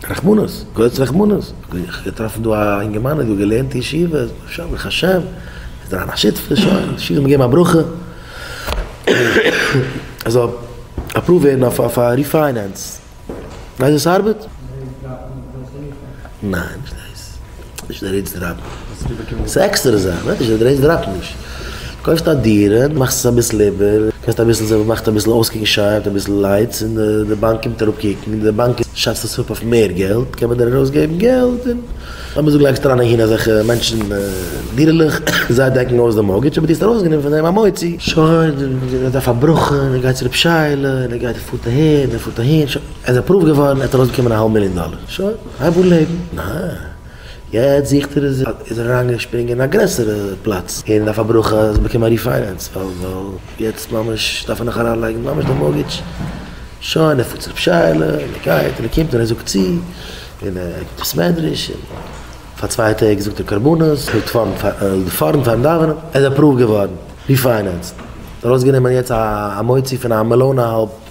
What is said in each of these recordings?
רחמנות, גאָטס רחמנות, האָב איך געטראָפֿן דאָ אַ אינגערמאַן, איז דאָ געלערנט אין ישיבֿה, שומר איך השם, איז דער אַן אַ שותּפֿער, שױן, די שילן געגעבן אַ ברכה, ער זאָל אַפּראָװט װערן אױף אױף אַ ריפֿײנענס. װײסט װי ס'אַרבעט? נײן, נישט דאָס. נישט דער רעיטס דראפן. ס'איז עקסטערע זאך. ניין נישט דער רעיטס דראפן נישט. קויפסט א דירה, מאכסט עס אביסל איבער, קענסט אביסל זען וואס מאכט אביסל אויסקוקן שיין, אביסל לייטס, און די באנק קומט אראפ קוקן, און די באנק שאצט עס אפ אויף מער געלט, קען מען דיר ארויסגעבן געלט, און לאמיר זאגן לייגסט אריין אהין אזעלכע מענטשן דירה'לעך, זיי דעקן אויס די מארטגעדזש, אבער דו האסט ארויסגענומען פון דעם א מוציא. שוין, און ער דארף א ברכו, און ער גייט צו רב שיילע, און ער גייט ער פארט אהין, און ער פארט אהין, שוין, ער איז עפראווד געווארן, ער האט ארויסבאקומען א האלב מיליאן דאלער. שוין. רבו לעבן, ניין. יעצט זוכט ער איז ער אריינגעשפרינגען אין א גרעסערע פלאץ און אויף א ברכה האט ער באקומען א ריפיינענס ווייל יעצט ממש דארף ער נאך אריינלייגן ממש די מארטגעדזש. שוין ער פארט צו רב שייעלע און ער גייט און ער קומט און ער זאגט צו און ער גיבט בית מדרש און פאר צוויי טעג זאגט ער קרבנות האט פארן פארן פארן דאווענען ער איז אפראווד געווארן ריפיינענסד ארויסגענומען יעצט א מוציא פון א מיליאן אהאלב.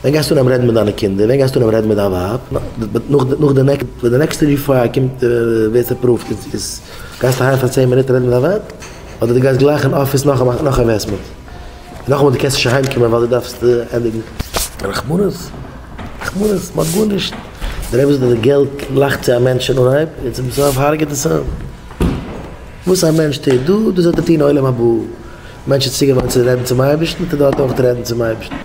ווען גייסטו אנהייבן רעדן מיט דיינע קינדער? ווען גייסטו אנהייבן רעדן מיט דיין ווייב? נאך די נעקסט, ווען די נעקסטע ריפייר קומט ווערט אפראווד איז גייסטו אהיים פאר צען מינוט רעדן מיט דיין ווייב? אדער די גייסט גלייך אין אפיס נאך א אינוועסטמענט? און נאכאמאל די קענסט נישט אהיים קומען ווייל די דארפסט ענדיגן? רחמנות? רחמנות? מ'האט גארנישט. דער אייבערשטער דער געלט לאכט צו א מענטש אין אנהייב און צום סוף הארגעט עס אים. וואס א מענטש טוט דא, דאס וועט ער טון עולם הבא. מענטש איז צוגעוואוינט צו רעדן צום אייבערשטן וועט ער דארט אויך רעדן צום אייבערשטן.